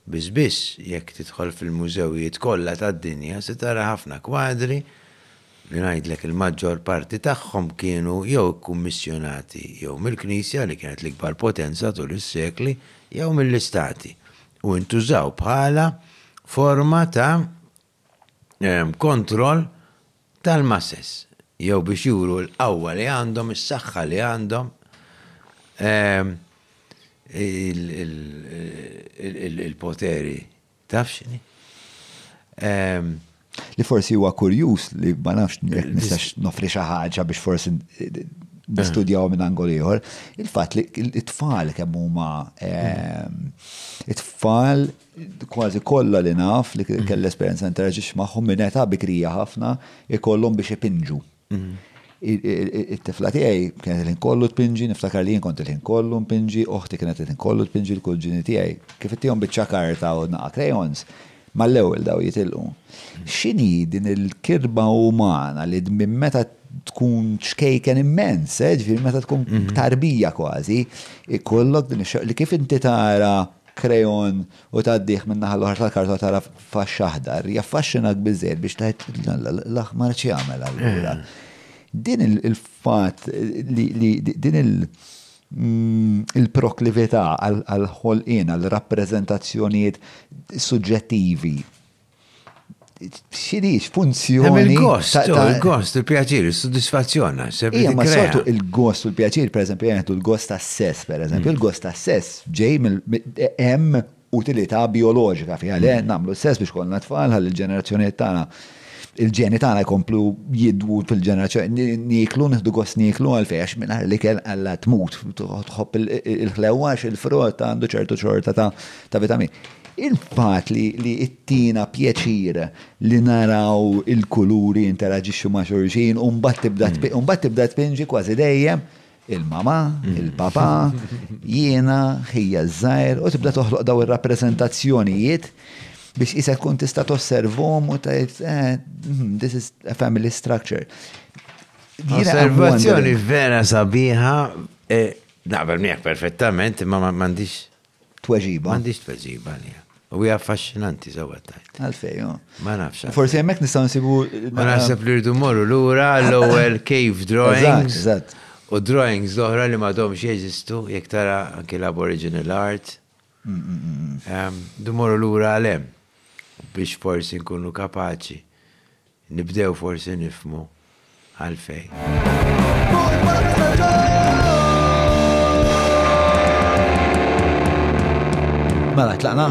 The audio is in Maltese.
Biss biss jekk tidħol fil-mużewijiet kollha tad-dinja se tara ħafna kwadri li ngħidlek il-maġġor parti tagħhom kienu jew ikkummissjonati jew mill-Knisja li kienet l-ikbar potenza tul is-sekli jew mill-istati u intużaw bħala forma ta' kontroll tal-muscles jew biex juru l-qawwa li għandhom, is-saħħa li għandhom, il-poteri tafxni. Li forsi huwa kurjus li ma nafx jekk nistax nofri xi ħaġa biex forsi nistudjaw minn angol ieħor, il-fatt li t-tfal kemm huma it-tfal kważi kollha li naf li kell esperjenza interaġix magħhom minn età bikrija ħafna ikollhom biex ipinġu. It-tifla tiegħi kienet il-ħin kollu tpinġi, niftakar li jien kont il-ħin kollu npinġi, oħti kienet il-ħin kollu tpinġi l-kuġġini tiegħi. Kif ittihom biċċa karta u naqa' crayons, mal-ewwel daw jitilqu. X'inhi din il-kirba umana li minn meta tkun ċkejken immens, eh, ġifieri meta tkun tarbija kważi, ikollok din li kif inti tara krejon u tgħaddih min-naħa l-oħra tal-karta u tara faxx aħdar, jaffaxxinak biżżejjed biex tgħid l-aħmar x'jagħmel allura. Din il-fatt li din mm, il-proklività għal-ħolqien, għal-rappreżentazzjonijiet suġġettivi xirix, funzjoni. Il-gost, il-gost, il-pjaċir, il-soddisfazzjon, naħseb. Ija, ma sortu il-gost u l-pjaċir, per eżempju, jgħedu l-gost ta' sess, per eżempju, mm. il-gost ta' sess ġej mill-em utilità biologika fiha le mm. namlu sess biex konna tfal għal il-ġenerazzjoni tagħna il-ġeni tagħna jkomplu jidwu fil-ġenerazzjoni niklu nieħdu gost niklu għal fejx minn li kell alla tmut tħobb il-ħlewwax il-frott għandu ċertu ċorta ta' vitamin. Il-fatt li ittina pjaċir li naraw il-kuluri jinteraġixxu ma' xulxin u mbagħad tibda u mbagħad tibda tpinġi kważi dejjem il-mama, il-papa, jiena, ħija ż-żgħir u tibda toħloq daw ir-rappreżentazzjonijiet biex qisha tkun tista' tosservhom u tgħid this is a family structure. Osservazzjoni vera sabiħa naqbel miegħek perfettament imma m'għandix tweġiba. M'għandix tweġiba għaliha. U hija affaxxinanti sewwa tajt. Għalfej, jo. Ma nafx. Forsi hemmhekk nistgħu nsibu. Ma naħseb li rridu morru lura l-ewwel cave drawings. Eżatt, U drawings l-oħra li m'għadhomx jeżistu, jekk tara anki l-aboriginal art. Mm, mm, mm, du morru lura għal hemm biex forsi nkunu kapaċi Nibdew forsi nifhmu għalfejn. Mela, tlaqna?